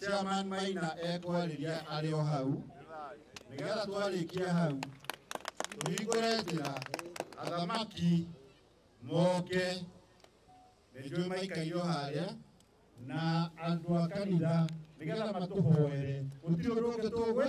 Chairman Maina ekwarĩria arĩ o hau nĩgetha twarĩkia hau tũhingũre njĩra athamaki moke nĩnjũĩ maikaire o harĩa na andũ a kanitha nĩgetha matũhoere gũtirĩ ũndũ ũngĩ tũgwĩ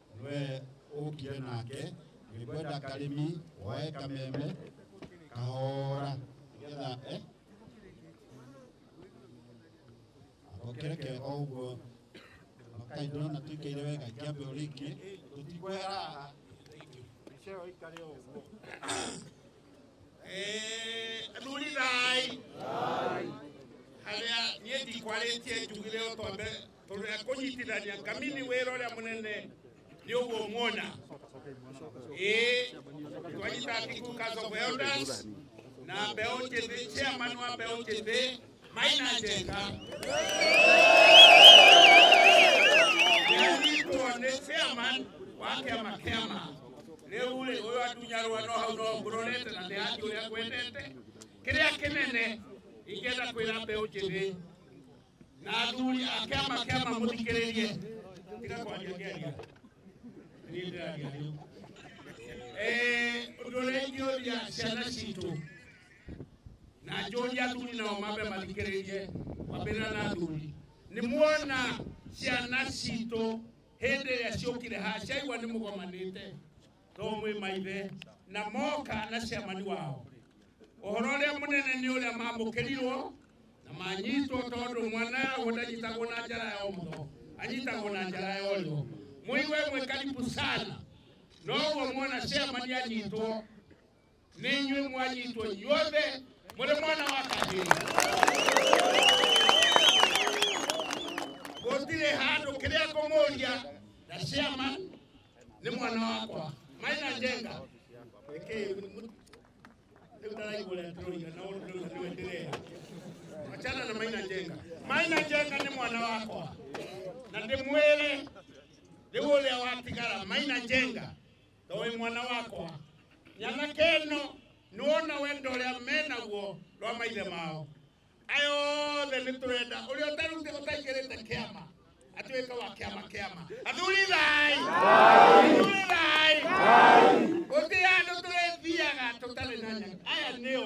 nwe ũkire nake nĩkwenda karĩmi woe kameme kahora nĩgetha eh? akokereke o ũguo makai ndona tũikaire wega kĩambe ũrĩ ingĩ tũtikwera haha ceo ikare o ũguo muridai harĩa niĩ ndikwarĩtie njugire o twambe tondũ ya kũnyitithania ngamini wĩra ũrĩa mũnene nĩ ũguo muona ĩĩ twanyita Atiku Council of Elders na mbeũ njĩthĩ chairman wa mbeũ njĩthĩ Maina Njenga yanyitwo nĩ chairman wa kĩama kĩama rĩu rĩ ũyũ atunyarwa no hau no ngũrorete na ndĩhati ũrĩa kwendete kĩrĩa kĩnene ingĩenda kwĩra mbeũ njĩthĩ na athuri ake makema mũthikĩrĩrie tiga kwanjia ngĩaria niĩ ndĩraria rĩu Eh, ũndũ ũrĩa ingĩũria ciana citũ na njũria athuri nao mambe mathikĩrĩrie mambĩrĩra na athuri nĩ muona ciana citũ hĩndĩ ĩrĩa ciũkire haha ciaigua nĩ mũgomanĩte to mwĩ maithe na moka na ciamani wao ũhoro ũrĩa mũnene nĩ ũrĩa mamũkĩrirwo na manyitwo tondũ mwana yagwo ndanyitagwo na njara ya ũmotho anyitagwo na njara ya ũrĩo mũigue mwĩ karibu sana noguo mwona ciamani anyitwo ninywi mwanyitwo inyuothe mũrĩ mwana wa kahĩĩ gũtirĩ handũ kĩrĩa ngũmũria na ciama nĩ mwana wakwa maina njenga nĩndaraigũretũrũiga na ũndũ rĩu nĩwe ndĩrera achana na maina njenga maina njenga nĩ mwana wakwa na ndĩmwĩre rĩu ũrĩa watigara maina njenga Ndoĩ mwana wakwa, nyanake ĩno nĩwona wendo ũrĩa me naguo rwa maithe mao. Aya othe nĩtũrenda ũrĩa ũtarute ũtaingĩrĩte kĩama atuĩke wa kĩama kĩama. Athuri thai! Athuri thai! Gũtirĩ handũ tũrĩthiaga tũtarĩ na nyanake. Aya nĩo.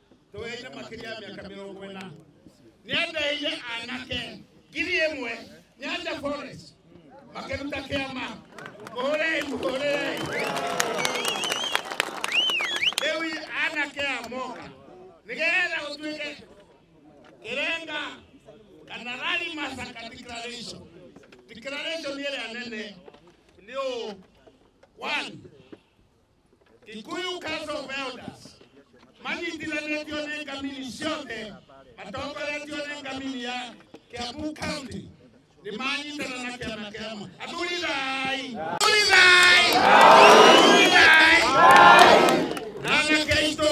tweire makĩria ya mĩaka mĩrongo ĩna nĩ endeire anake ngiri ĩmwe nyanja forest makĩruta kĩama mũhũrei mũhũrei rĩu anake a moka nĩgetha ũtuĩke kĩrenga kana rari masaka declaration declaration ĩrĩa nene nĩ ũũ one Kikuyu Council of Elders manyitiranĩtio nĩ ngamini ciothe matongoretio nĩ ngamini ya Kiambu County nĩ manyitana na kĩama kĩama athuri thai athuri thai athuri thai na anake aitũ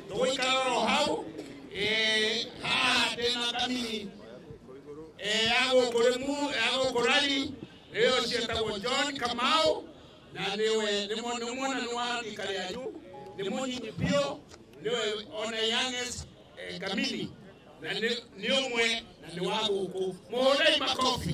tũgũikara oro hau eh, haha ndĩna kamini eh, ya gũkũ rĩmu ya gũkũ rari rĩo cietagwo john kamau na nĩwe nĩ mwa- nĩ mwana nĩ wa rika rĩanyu nĩ mũnyinyi biũ nĩwe ona youngest eh, kamini na nĩ nĩ ũmwe na nĩ wa gũkũ mũhũrei makobi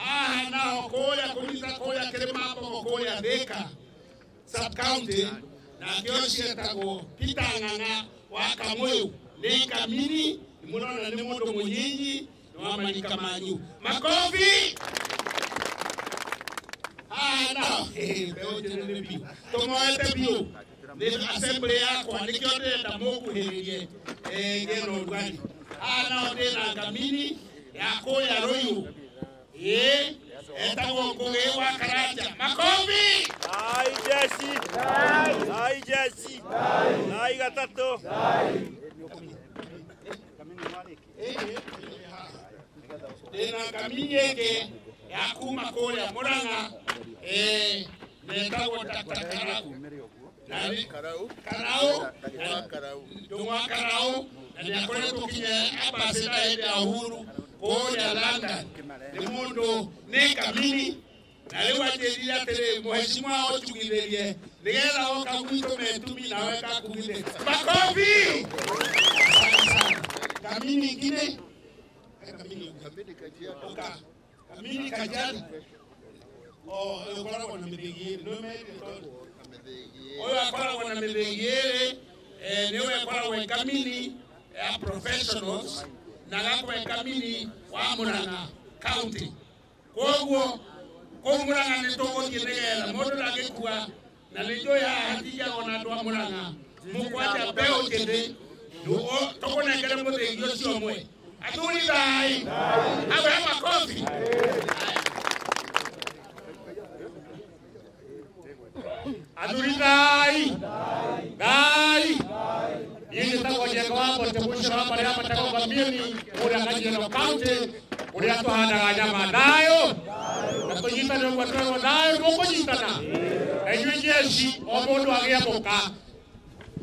haha naho kũrĩa kũnyita kũrĩa kĩrĩmambogo kũrĩa thĩka subcounty nakĩo cietagwo pitang'ang'a wa kamũyũ nĩ kamini mũrona nĩ mũndũ mũnyinyi nĩ wa marika manyu makobi haha naho mbeũ njĩthĩ nĩ biũ tũmoete biũ Rĩu assembly yakwa nĩkĩo ndĩrenda mũkuhĩrĩrie eh, ngeno ũrugarĩ haha nao ndĩ na ngamini ya kũrĩa rũiũ ĩ etagwo ngũgĩ wa karanja makombi Thai jeshi. Thai jeshi. Thai gatatũ. tena kaminyeke yakuma kũrĩa mũrang'a eh, netagwo takaraũ nani karaũ ndũng'wa karaũ na nĩakoretwo kinya ambasada hĩndĩ ya uhuru kũrĩa london nĩ mũndũ nĩ kamini naliwatelia tele mheshimiwa otugitherie nigetha oka gwitå metumi nawe kakugithe makobi kamini ingine kamini oka kamini kajali ukoragwo na mĩthĩgi ĩrĩ ũyũ akoragwo na mĩthĩgi ĩrĩ nĩwe akoragwo e kamini ya professionals na agakorwo e kamini wa mũrang'a county koguo kũu mũrang'a nĩ tũgũthiĩ nĩgetha mũndũ ndagĩkua na nĩ njũĩ haha hatinjagwo na andũ a mũrang'a mũkwanja mbeũ njĩthĩ Ndugu- tũkũnengere mũthĩgi ũcio ũmwe athuri thai awe makobi athurinai ngai ini tagwo jekowambo temucira maria matagwo mamini uria kajeno kaunti uria tuhandaga nyama nayo na tunyitane ũguo twegwo nayo mũkũnyitana na inyuĩ jeshi o mũndũ agĩe mũka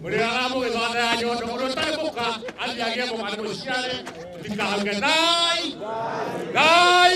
ũrĩa aramũgĩthonda ya nyondo ũrĩa ũtarĩ mũka athiĩ agĩe mũka nĩ mũciare ndikahauge ngai ngai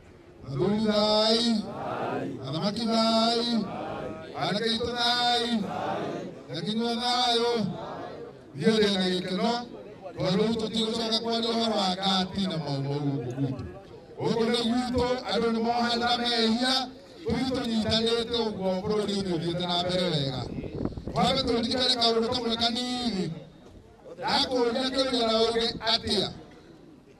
Athuri thai. Athamaki thai. Anake aitũ thai. Nyakinyua thayũ. Niĩ ndĩ na gĩkeno tondũ rĩu tũtigũcoka kwaria ũhoro wa ngati na maumau gũkũ gwitũ. Gũkũ nĩ gwitũ andũ nĩ mohanda mehia tũthiĩ tũnyitanĩte ũguo bũrũri ũyũ ũthiĩte na mbere wega. Twambe tũririkane kaũndũ kamwe kanini ndakũria kĩũria na ũge atĩa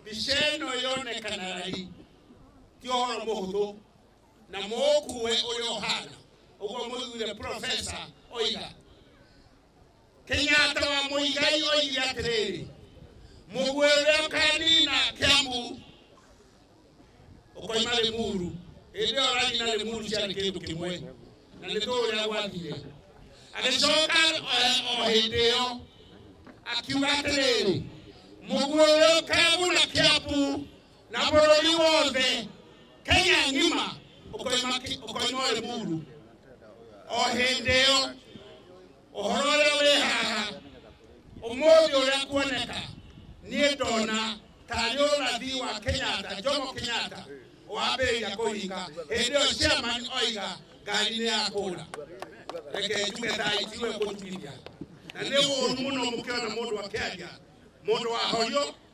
mbica ĩno yonekana raithi ti ũhoro mũhũthũ na mũũkuwe ũrĩa ũhana ũguo mũthure profesa oiga kenyatta wa mũigai oigire atĩrĩrĩ mũguĩ ũrĩa ũkanina kĩambu ukoima limuru indi oranyina limuru ciari kindu kimwe na ni tu uria gwathire agicoka o hindi iyo akiuga atiriri muguo uyu keguna kiambu na bururi wothe kenya ngima ukoima ki- ukoima limuru o hindi iyo ũhoro ũrĩa wĩ haha ũmũthĩ ũrĩa kuoneka niĩ ndona tarĩ ũrathi wa kenyatta jomo kenyatta wambĩrĩria kũhinga hĩndĩ ĩyo chairman oiga ngari nĩ ya kũra reke njuge thaa itiwe kũnjigithia na nĩ ũũru mũno mũkĩona mũndũ akĩaria mũndũ wahorio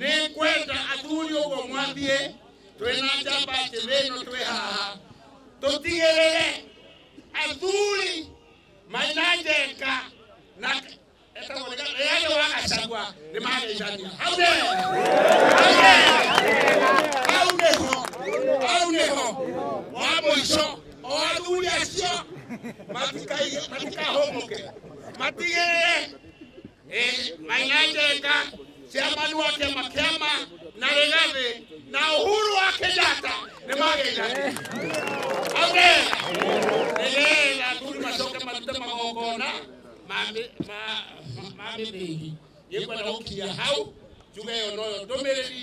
nä ngwenda athuri å guo mwathiä twä na njamba njä thä ä no twä haha tå tigä rä re athuri maina njeka na rĩarĩ wa gacagua nĩ mageithania hau nĩ hau nĩho hau nĩho wa mũico o athuri acio matikahũmũke matigĩrĩre maingaiteka ciamanu wa kĩama kĩama na rĩgathĩ na ũhuru wa kenyatta nĩ mageithania amen nĩgetha athuri macoke marute magongona ma mĩ- ma- ma- ma mĩthĩngi gĩkwenda gũkinya hau njuga ĩyo noyo ndũmĩrĩri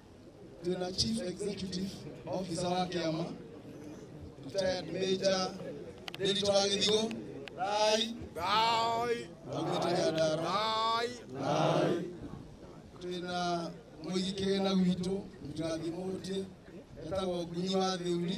tuna chief executive officer wa kiama retired major David Wagithigo rai Thai, augĩtũya ndara thai, rai twĩna mũigi kĩgĩna gwitũ mũtũrathi mũtĩ etagwo ngunyi wa thĩuri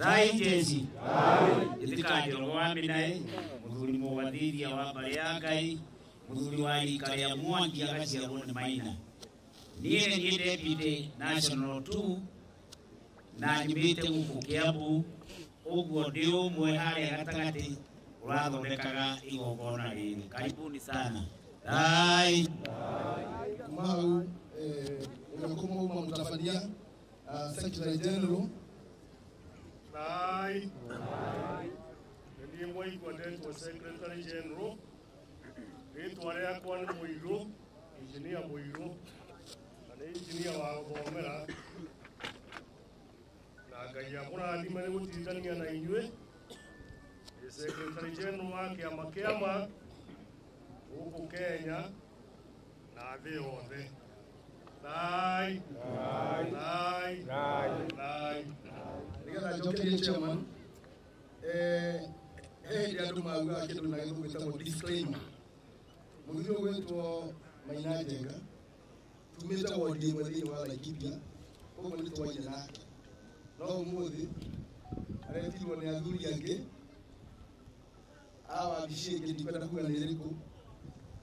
thaitĩci ĩtĩkanjĩra mũwambi naĩ mũthuri mũwathithia wa mbarĩ ya ngai mũthuri wa rika rĩa mwangi agaciarwo nĩ maina niĩ niĩ deputy national 2 na nyumĩte gũkũ kĩambu ũguo ndĩ ũmwe harĩa gatagatĩ ũrathondekaga igongona rĩrĩ karibuni sana thai kuma hau eh, ũrĩa kũmauma mũtabania uh, Secretary General. Aye. Aye. Ndiye mwai kwa date wa Secretary General. Ritwa rĩakwa nĩ Mũirũ, Engineer Mũirũ, na nĩ engineer wa gũthomera. Na Ngai akũrathime nĩ gũtindania na inyuĩ. Nĩ Secretary General wa kĩama kĩama gũkũ Kenya na thĩ yothe thai thai thai thai nĩgetha njokerie chairman eh, he hĩndĩ andũ maugaga kĩndũ na gĩthũngũ gĩtagwo disclaimer mũthuri ũyũ gwĩtwo maina njenga tumĩte wondi ĩmwe thĩinĩ wa laikipia koguo nĩ twaire nake no ũmũthĩ aretirwo nĩ athuri angĩ a wabici ĩngĩ ndikwenda kuga nĩ ĩrĩkũ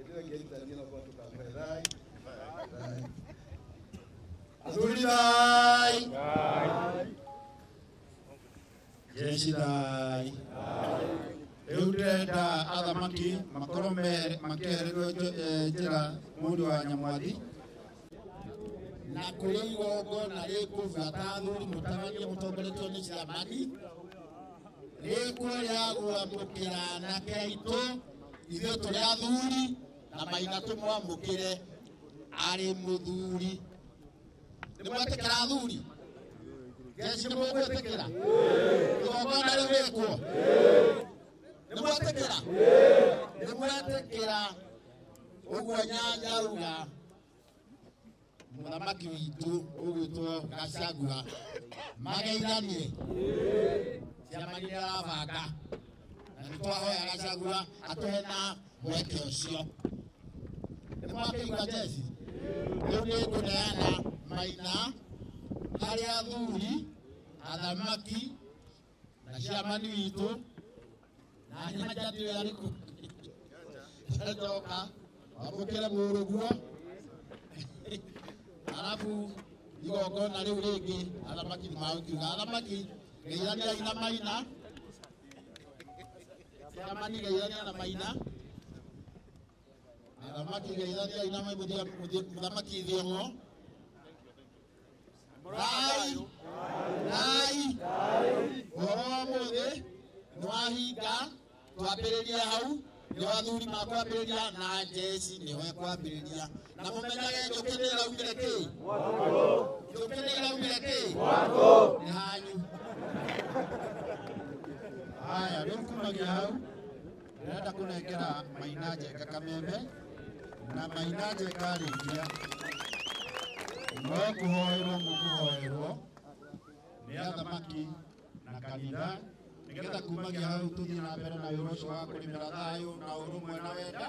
Ĩtĩwe ngĩaitania na kwa tũkamwe thai. Athuri thai. Jeshi thai. Rĩu ndĩrenda athamaki makorwo me- makĩehererio njo- eh, njĩra mũndũ wa nyamwathi na kũrĩ igongona rĩkũbuata athuri mũtararie mũtongoretio nĩ ciamani rĩkũrĩagwo mũkĩra anake aitũ ithuĩ tũrĩ athuri na maina tũmwamũkĩre arĩ mũthuri nĩ mwetĩkĩra athuri jeshi nĩ mũgwĩtĩkĩra igongona rĩu rĩkuo nĩ mwetĩkĩra nĩ mwetĩkĩra ũguo nyanja ruga mũthamaki witũ ũgwĩtwo gacagua mageithanie ciama iria arabanga na nĩ twahoya gacagua atũhe na mweke ũcio nĩ mwakĩigua jesi rĩu nĩ ngũneana maina harĩ athuri athamaki na ciamani witũ na nyanja ndĩo yarĩ kũ njoka wamũkĩre mũrũguo arabu igongona rĩu rĩngĩ athamaki nĩ magũkiuga athamaki geithaniai na maina ciamani geithania na maina athamaki geithaniai na maina mũthamaki thiong'o thai thai ũhoro wa mũthĩ nĩ wahinga twambĩrĩria hau nĩ athuri makwambĩrĩria na njeci nĩo ekwambĩrĩria na mũmenyage njũkĩ nĩ ĩraumire kĩ njũkĩ nĩ ĩraumire kĩ nĩ hanyu haya rĩu kumagia hau Ndĩrenda kũnengera Maina Njenga kameme na Maina Njenga arĩkia no kũhoerwo mũkũhoerwo nĩ athamaki na kanitha nĩgetha kumagia hau tũthiĩ na mbere na wĩra ũcio wa kũrĩmĩra thayũ na ũrũmwe na wenda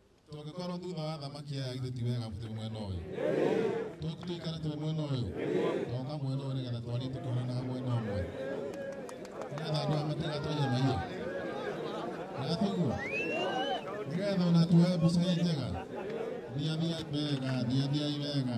tũngĩkorwo thutha wa thamaki aya githĩ ti wega tũrĩ mwena ũyũ Tũ- tũikare tũrĩ mwena ũyũ toka mwena ũyũ nĩgetha twarie tũkĩhanaga mwena ũmwe nĩgetha andũ a matega twenye maiyo nĩgatũguo nĩgetha ona tuoe mbica ĩ njega thiathiai wega thiathiai wega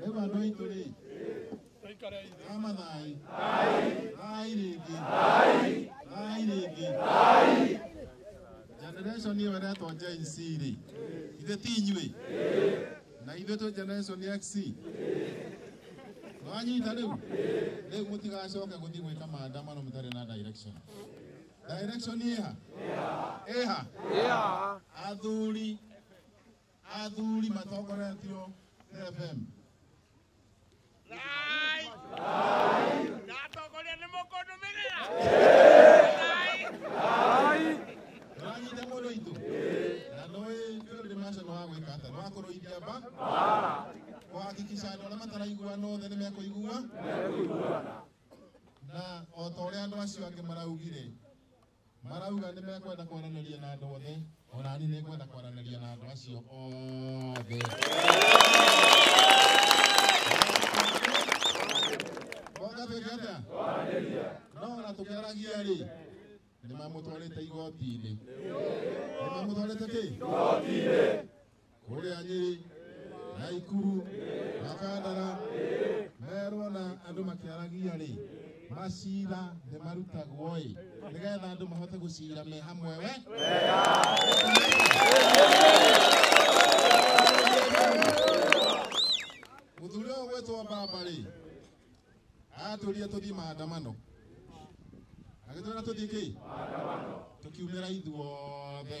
Rĩu andũ aitũ rĩ, kama thai thai rĩngĩ thai rĩngĩ generation ĩyo ĩretwo Gen Z rĩ ithe ti inyuĩ na ithuĩ twĩ generation X wanyita rĩu rĩu mũtigacoke gũthiĩ gwĩka maandamano mũtarĩ na direction Direction ĩha. Ĩha. Yeah. Athuri. Athuri matongoretio nĩ FM. Rai. Ndatongoria nĩ mũkũndũmĩrĩra. Rai. Ndĩranyita mũndũ witũ. Na nĩũĩ Field Marshal nĩ wa gwĩka atĩa? Nĩ wa kũrũithia mba. Kũhakikisha andũ arĩa mataraiguana othe nĩ mekũiguana. na o ta ũrĩa andũ acio angĩ maraugire marauga nĩ mekwenda kwaranĩria na andũ othe ona niĩ nĩ ngwenda kwaranĩria na andũ acio othe wagatuĩka atĩa no ona tũkĩaragia rĩ nĩ mamũtwarĩte igoti-inĩ nĩ mamũtwarĩte kĩ kũrĩa nyĩrĩ na ikuru na kandara merwo na andũ makĩaragia rĩ macira nĩ marutagwo ĩ nĩgetha andũ mahote gũcira me hamwe we mũthuri ũyũ gwĩtwo mbamba rĩ atũrire tũthiĩ maandamano agĩtwĩra tũthiĩ kĩ tũkiumĩra ithuothe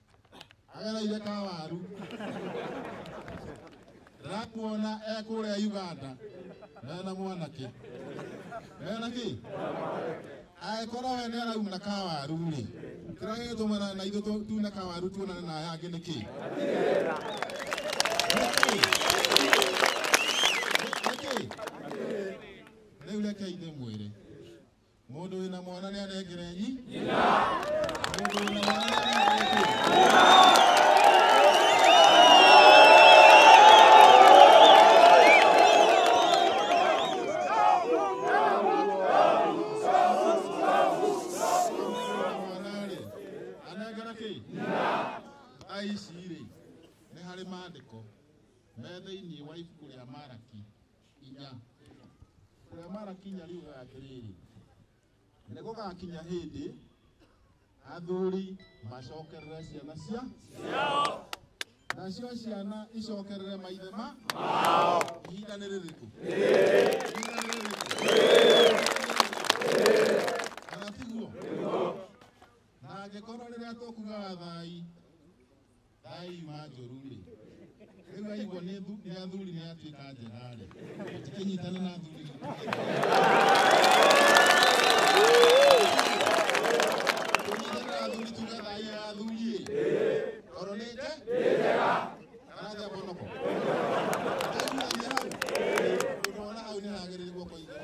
agereire ka waru rakuona ekũrĩa uganda mena mwanake mena kĩ angĩkorwo we nĩ arauna ka waru rĩ kĩrĩa gĩgĩtũmana na ithuĩ tu- tune ka waru tuonane na aya angĩ nĩ kĩ Nĩ kĩ? Nĩ kĩ? rĩu rekei ndĩmwĩre Mũndũ wĩna mwana nĩ anengere nyi. Mũndũ wĩna mwana nĩ anengere nyi. mwana-rĩ anengera kĩ thaa ici-rĩ nĩ harĩ maandĩko me thĩinĩ wa ibuku rĩa maraki inya ũrĩa marakinya rĩu atĩrĩrĩ nĩ gũgakinya hĩndĩ athuri macokerere ciana cia nacio ciana icokerere maithe ma ihinda nĩ rĩrĩkũ Ihinda nĩ rĩrĩkũ? Kana tiguo na angĩkorwo rĩrĩa tũkugaga thai Thai manjũru-rĩ, rĩu aigua nĩ thu- nĩ athuri nĩ atuĩka njera-rĩ, tũkĩnyitana na athuri witũ. Tũnyitane na athuri tuge thai ya athuri-ĩ. Tondũ nĩ nje? Arathĩa mbonoko. Ndaigua nĩ hau. Ũndũ wona hau nĩ hagĩrĩire guoko igũrũ.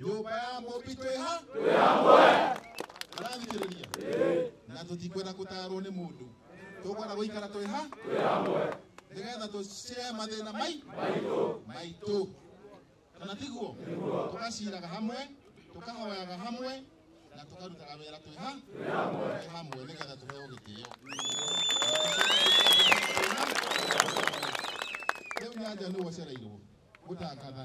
nyũmba ya mũmbi twĩha arathikĩrĩria na tũtikwenda gũtarwo nĩ mũndũ tũkwenda gũikara twĩha nĩgetha tũcire mathĩna mai maitũ kana tiguo tũgaciraga hamwe tũkahoyaga hamwe na tũkarutaga wĩra twĩha twĩ hamwe nĩgetha tũheo gĩtĩo rĩu nyanja nĩ wocereirwo gũtangatha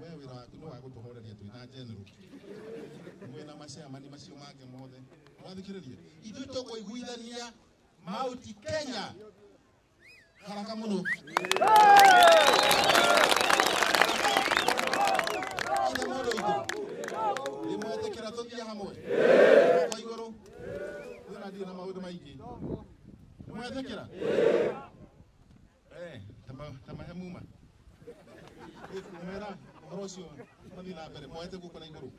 We wira waku ni wa gutuhoreria twi na general mwe na macemani macio mangĩ mothe mwathikĩrĩria ithuĩ tũkũiguithania mauti kenya haraka mũno Ithe mũndũ witũ nĩ mwetĩkĩra tũthiĩ hamwe kwa igũrũ kwĩna ndirĩ na maũndũ maingĩ nĩ mwetĩkĩra Eh, tama tama he muma kumera horo ucio mathi na mbere moete guko na iguru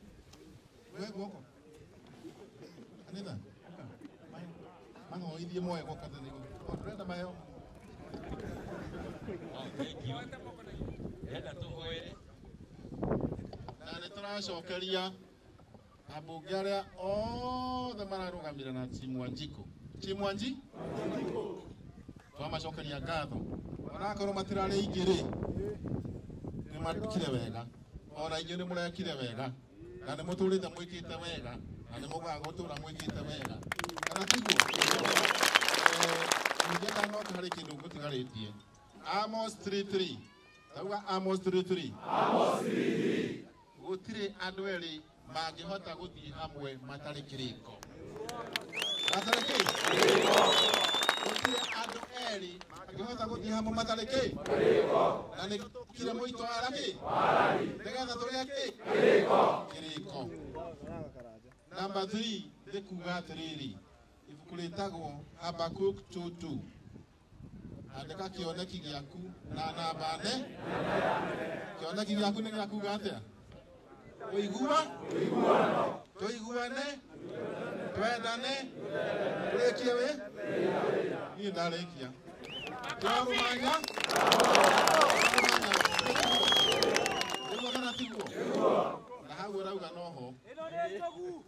we guoko anitha mahoithie moe guoko na iguru ndurenda maheo Nenda tũhoere. na nä tå racokeria ambunge arĩa othe mararũgamĩrĩra na Chimwanjiko Chimwanji twamacokeria ngatho onakorwo matirarĩ aingĩ rĩ nĩ makire wega ona inyuĩ nĩ mũrekire wega na nĩ mũtũrĩte mwĩkĩte wega na nĩ mũkaga gũtũra mwĩkĩte wega kana tiguo ningĩ kana no harĩ kĩndũ ngũtigarĩtie Amos 33 tauga Amos 33 Gũtirĩ andũ erĩ mangĩhota gũthiĩ hamwe matarĩ kĩrĩko. Matarĩ kĩ? Gũtirĩ andũ erĩ mangĩhota gũthiĩ hamwe matarĩ kĩ? Na nĩ kire mũito wa rami? Nĩgetha tũrĩa kĩ? Kĩrĩko. Namba 3 nĩ kuuga atĩrĩrĩ, ibuku rĩtagwo Habakkuk 2:2. andĩka kĩoneki gĩaku na namba ne kĩoneki gĩaku nĩ gĩa kuga atĩa ũigua tũiguane twendane tũrĩkie wĩ niĩ ndarĩkia twarũmanya nĩguo kana tiguo na hau ũrauga noho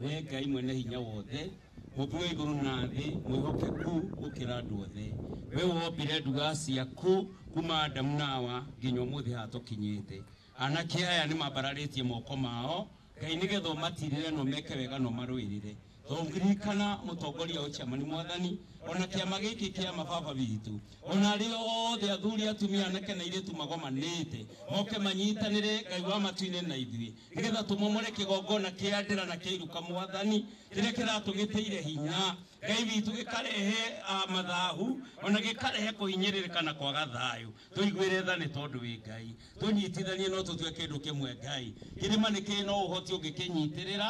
Wee Ngai mwene hinya wothe, Mũmbi wa igũrũ na thĩ, mwĩhokeku gũkĩra andũ othe, we wombire nduga ciaku kuma Adamu na Hawa nginya ũmũthĩ haha tũkinyĩte. Anake aya nĩ mambararĩtie moko mao, Ngai, nĩgetha ũmatirĩre na ũmeke wega na ũmarũĩrĩre. Ririkana mũtongoria ũyũ Chairman Mwathani, ona kĩama gĩkĩ kĩa mababa witũ, ona arĩa othe athuri, atumia, anake na airĩtu magomanĩte, moke manyitanĩre Ngai wa matu-inĩ na ithuĩ. nĩgetha tũmomore kĩgongona kĩa ndĩra na kĩa iruka mwathani kĩrĩa kĩratũgĩtĩire hinya ngai witũ gĩkarehe ah, mathahu ona gĩkarehe kũhinyĩrĩrĩka na kwaga thayũ tũiguĩre tha nĩ tondũ wĩ ngai tũnyitithanie no tũtue kĩndũ kĩmwe ngai kĩrĩma nĩ kĩrĩ no ũhoti ũngĩkĩnyitĩrĩra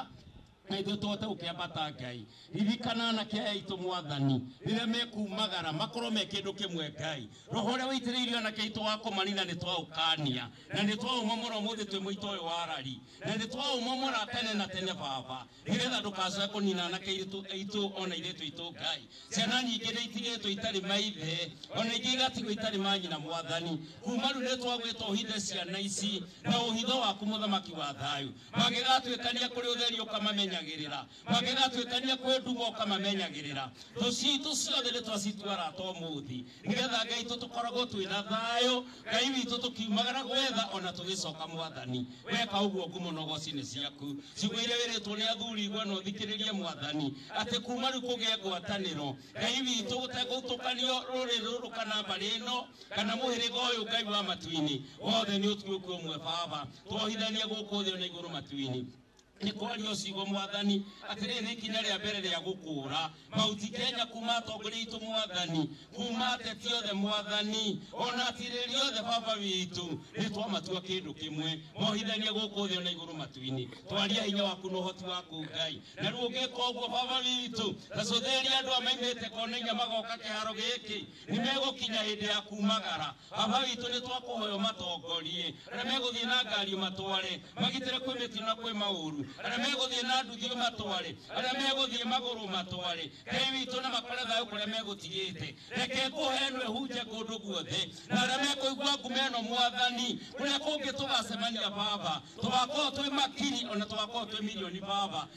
na ithuĩ tũhote gũkĩambata ngai ririkana anake aya aitũ mwathani rĩrĩa mekumagara makorwo me kĩndũ kĩmwe ngai roho ũrĩa wĩitĩrĩirio anake aitũ wa kũmanina nĩ twaũkania na nĩ twaũmomora ũmũthĩ twĩ mũito ũyũ wa rari na nĩ twaũmomora tene na tene baba nĩgetha ndũkacoe kũnina anake aitũ aitũ ona irĩtũ aitũ ngai ciana nyingĩ nĩ itigĩtwo itarĩ maithe ona ingĩ igatigwo itarĩ manyina mwathani kuma rĩu nĩ twagwĩtwo ũhithe ciana ici na ũhitho waku mũthamaki wa thayũ magĩgatuĩkania kũrĩ ũtheri ũkamamenyagĩrĩra magĩgatuĩkania kwĩ nduma ũkamamenyagĩrĩra thũ citũ ciothe nĩ twacituara to mũthĩ nĩgetha ngai itũ tũkoragwo twĩ na thayũ ngai witũ tũkiumagara gwetha ona tũgĩcoka mwathani weka ũguo ngumo na ũgocinĩ ciaku ciugo iria wĩrĩtwo nĩ athuri igwe na ũthikĩrĩrie mwathani atĩ kuma rĩu kũgĩe ngwatanĩro ngai witũ gũtegũtũkanio rũrĩrĩ rũrũ kana mbarĩ ĩno kana mũhĩrĩga ũyũ ngai wa matu-inĩ wothe nĩ ũtuĩku ũmwe baba twohithagia gũkũ thĩ na igũrũ matu-inĩ nĩ kwaria ũcigo mwathani atĩrĩ nĩ ikinya rĩa mbere rĩa gũkũra mauti kenya kuma atongoria itũ mwathani kuma ateti othe mwathani ona atirĩri othe baba witũ nĩ twamatua kĩndũ kĩmwe mohithania gũkũ thĩ na igũrũ matu-inĩ twaria hinya waku na ũhoti waku ngai na rĩu ũngĩka ũguo baba witũ tacũthĩria andũ a maimĩte konainya magoka kĩharo gĩkĩ nĩ megũkinya hĩndĩ ya kumagara baba witũ nĩ twakũhoya ũmatongorie arĩa megũthiĩ na ngari ũmatware magitĩre kwĩ mĩtino na kwĩ maũru arĩa megũthiĩ na nduthi ũmatware arĩa megũthiĩ magũrũ ũmatware ngai witũ na makore thayũ kũrĩa megũtigĩte reke kũhenwe hunje kũndũ guothe na arĩa mekũigua ngume ĩno mwathani kũrĩa kũngĩ tũgacemania baba tũgakorwo twĩ makiri ona tũgakorwo twĩ milioni baba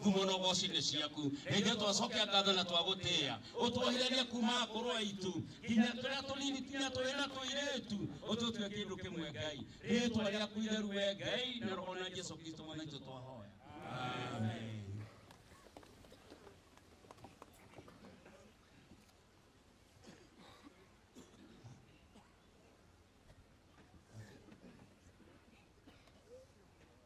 ngumo na ũgooci nĩ ciaku na ithuĩ twacokia ngatho na twagũtĩĩa ũtwohĩrĩrie kuma akũrũ aitũ nginya tũrĩa tũnini nginya tũrĩ na tũirĩtu ũtũtue kĩndũ kĩmwe ngai rĩtwa rĩaku itheru we ngai na roho na jesu kristo mwana itũ twahoya amen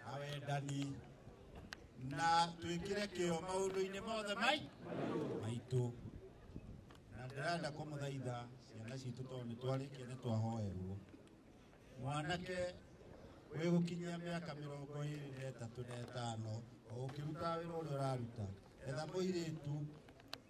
na wendani na twĩkĩre kĩo maũndũ-inĩ mothe mai maitũ na ndĩrenda kũmũthaitha ciana citũ tondũ nĩ twarĩkia nĩ twahoerwo mwanake wĩ gũkinyia mĩaka mĩrongo ĩrĩ na ĩtatũ na ĩtano o ũkĩruta wĩra ũrĩa ũraruta etha mũirĩtu